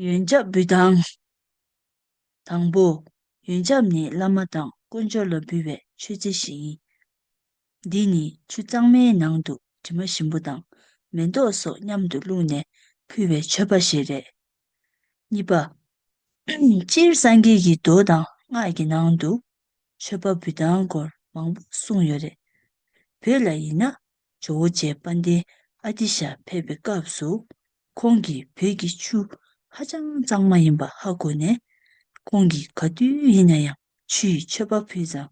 ཡོན་ཆབ་འབུལ་སྟངས། དང་པོ། ཡོན་ཆབ་ནི་བླ་མ་དང་དཀོན་མཆོག་ལ་འབུལ་བའི་མཆོད་རྫས་ཤིག་ཡིན། འདི་ནི་ཆུ་གཙང་མའི་ནང་དུ་དྲི་མ་ཞིམ་པོ་དང་མེ་ཏོག་སོགས་མཉམ་དུ་བླུགས་ནས་ཕུལ་བའི་མཆོད་པ་ཞིག་རེད། གཉིས་པ། སྤྱིར་སངས་རྒྱས་ཀྱི་མདོ་དང་སྔགས་ཀྱི་ནང་དུ་མཆོད་པ་འབུལ་སྟངས་སྐོར་མང་པོ་གསུངས་ཡོད་རེད། བོད་ལ་ཡིན་ན་ཇོ་བོ་རྗེ་དཔལ་ལྡན་ཨ་ཏི་ཤ་ཕེབས་པའི་སྐབས་སུ། ཁོང་གིས་བོད་ཀྱི་ཆུ་ཧ་ཅང་གཙང་མ་ཡིན་པ་ཧ་གོ་ནས། ཁོང་གིས་ག་དུས་ཡིན་ན་ཡང་ཆུ་ཡི་མཆོད་པ་ཕུལ་ཙང་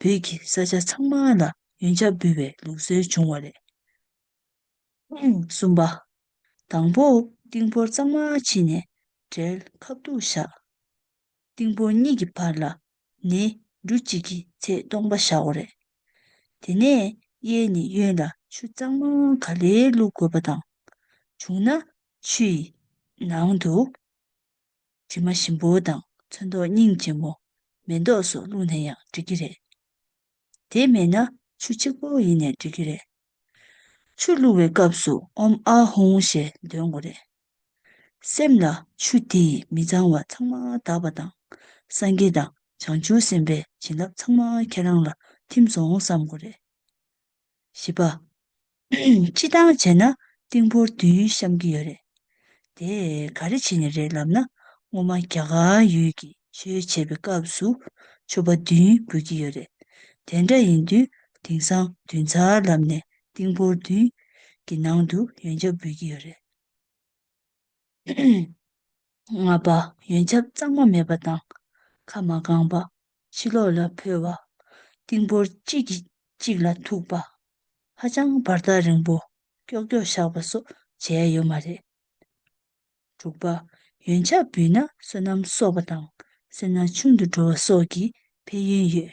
བོད་ཀྱི་ས་ཆ་ཚང་མ་ལ་ཡོན་ཆབ་འབུལ་བའི་ལུགས་སྲོལ་བྱུང་བ་རེད། གསུམ་པ། དང་པོ་ཏིང་ཕོར་གཙང་མ་ཕྱིས་ནས་གྲལ་ཁ་བཏུག་བཞག། ཏིང་ཕོར་གཉིས་ཀྱི་བར་ལ་ནི་འབྲུ་གཅིག་གི་ཚེ་སྟོང་པ་བཞག་གོ། རེད་དེ། ནས་གཡས་ནི་གཡོན་ལ་ཆུ་གཙང་མ་ག་ལེ་བླུག་དགོས་པ་དང། བྱུང་ན་ཆུ་ཡི་ནང་དུ། དྲི་མ་ཞིམ་པོ་དང་ཚོན་མདོག་སྙིང་རྗེ་མོ། མེ་མདོག་སོགས་བླུག་ན་ཡང་འགྲིག་གི་རེད། དེ་མེད་ན་ཆུ་གཅིག་པོ་ཡིན་ནས་འགྲིག་གི་རེད། ཆུ་བླུག་བའི་སྐབས་སུ་ཨོམ་ཨ་ཧུང་ཞེས་འདོན་དགོས་རེད། སེམས་ལ་ཆུ་དེས་མི་གཙང་བ་ཚང་མ་དག་པ་དང། སངས་རྒྱས་དང་བྱང་ཆུབ་སེམས་དཔའི་བྱིན་རླབས་ཚང་མ་ཁྱེད་རང་ལ་ཐིམ་སོང་བསམ་དགོས་རེད། བཞི་པ། སྤྱི་བཏང་བྱས་ན་ཏིང་ཕོར་དུས་ཡུན་བཤམ་གྱི་ཡོད་རེད། དེ་ག་རེ་བྱས་ནས་རེད་ལབ་ན་སྔོན་མ་རྒྱ་གར་ཡུལ་གྱི་ཆོས་བྱེད་པའི་སྐབས་སུ་མཆོད་པ་དུས་ཡུན་འབུལ་གྱི་ཡོད་རེད། དེ་འདྲ་ཡིན་དུས་དེང་སང་དུས་མཚར་ལབ་ནས་ཏིང་ཕོར་དུས་ཀྱི་ནང་དུ་ཡོན་ཆབ་འབུལ་གྱི་ཡོད་རེད། ལྔ་པ། ཡོན་ཆབ་གཙང་མ་མེད་པ་དང། ཁ་མ་བསྐངས་པ། ཕྱི་ལོགས་ལ་འཕོས་པ། ཏིང་ཕོར་གཅིག་གིས་གཅིག་ལ་ཐུག་པ། ཧ་ཅང་བར་ཐག་རིང་པོ་ཀྱོག་ཀྱོག་བཞག་པ་སོགས་བྱས་ཡོད་མ་རེད། དྲུག་པ། ཡོན་ཆབ་བུས་ན་བསོད་ནམས་གསོག་པ་དང་སེར་སྣ་ཆུང་དུ་འགྲོ་བ་སོགས་ཀྱི་ཕན་ཡོན་ཡོད།